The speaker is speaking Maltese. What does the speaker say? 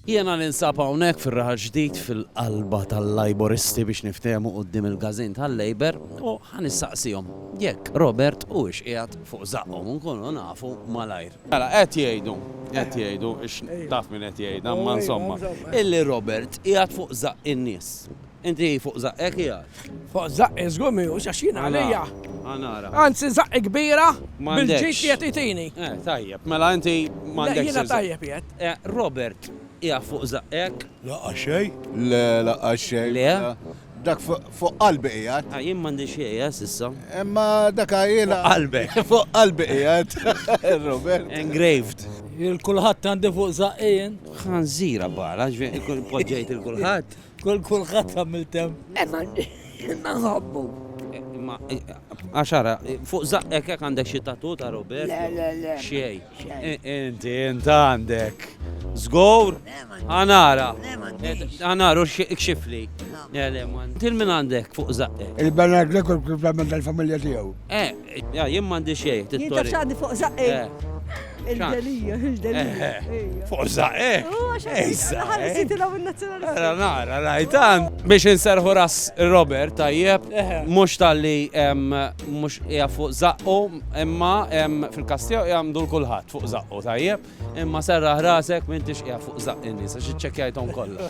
Jiena ninsab hawnhekk fir-Raħal Ġdid fil-qalba tal-Lajboristi biex niftehmu quddiem il-każin tal-Labour u ħa nistaqsihom jekk Robert huwiex qiegħed fuq żaqqhom u nkunu nafu malajr. Mela qed jgħidu, qed jgħidu, taf min qed jgħidha, imma insomma, illi Robert qiegħed fuq żaqq in-nies. Inti fuq żaqqek qiegħed? Fuq żaqqi żgur mhijiex għax jien għalija. Ħa nara. Anzi żaqqi kbira bil-ġid li qed itini. Eh, tajjeb, mela inti m'għandekx. Le jiena tajjeb qiegħed. Eh, Robert, qiegħed fuq żaqqek? Lanqas xejn. Le, lanqas xejn. Le? Dak fuq qalbi qiegħed. Ah, jien m'għandi xejn, eh, s'issa. Imma dak għajjiela. Fuq qalbek. Fuq qalbi qiegħed. Robert. Engraved. Il-kulħadd għandi fuq żaqqi jien. Ħanżira bara, ġifieri poġġejt il-kulħadd. Kol kulħadd għamil tem. Emma, imma nħobbu. Imma, għaxara, fuq zaqqek jek għandek xie tatu ta' Robert? Le, le, le. Xiej. Inti, inti għandek. Zgor? Għanara. Għanaru xifli. Le, le, man. Til min għandek fuq zaqqek. Il-banat l-ekol kif għamil dal-familja tijaw. Eh, Jah, jien m'għandi xejn, Jien taf x'għandi fuq żaqqi. Il-delija, il-delija. Fuq żaqqi? Ħalli sitilha min-nazzjonalista. Ara nara, rajtan. Biex inserħu ras Robert tajjeb, mhux talli mhux hija fuq żaqqu, imma fil-każ tiegħu hija mdul kulħadd fuq żaqqu tajjeb, imma serraħ rasek m'intix qiegħed fuq żaqqi n-nies għax iċċekkjajthom kollha.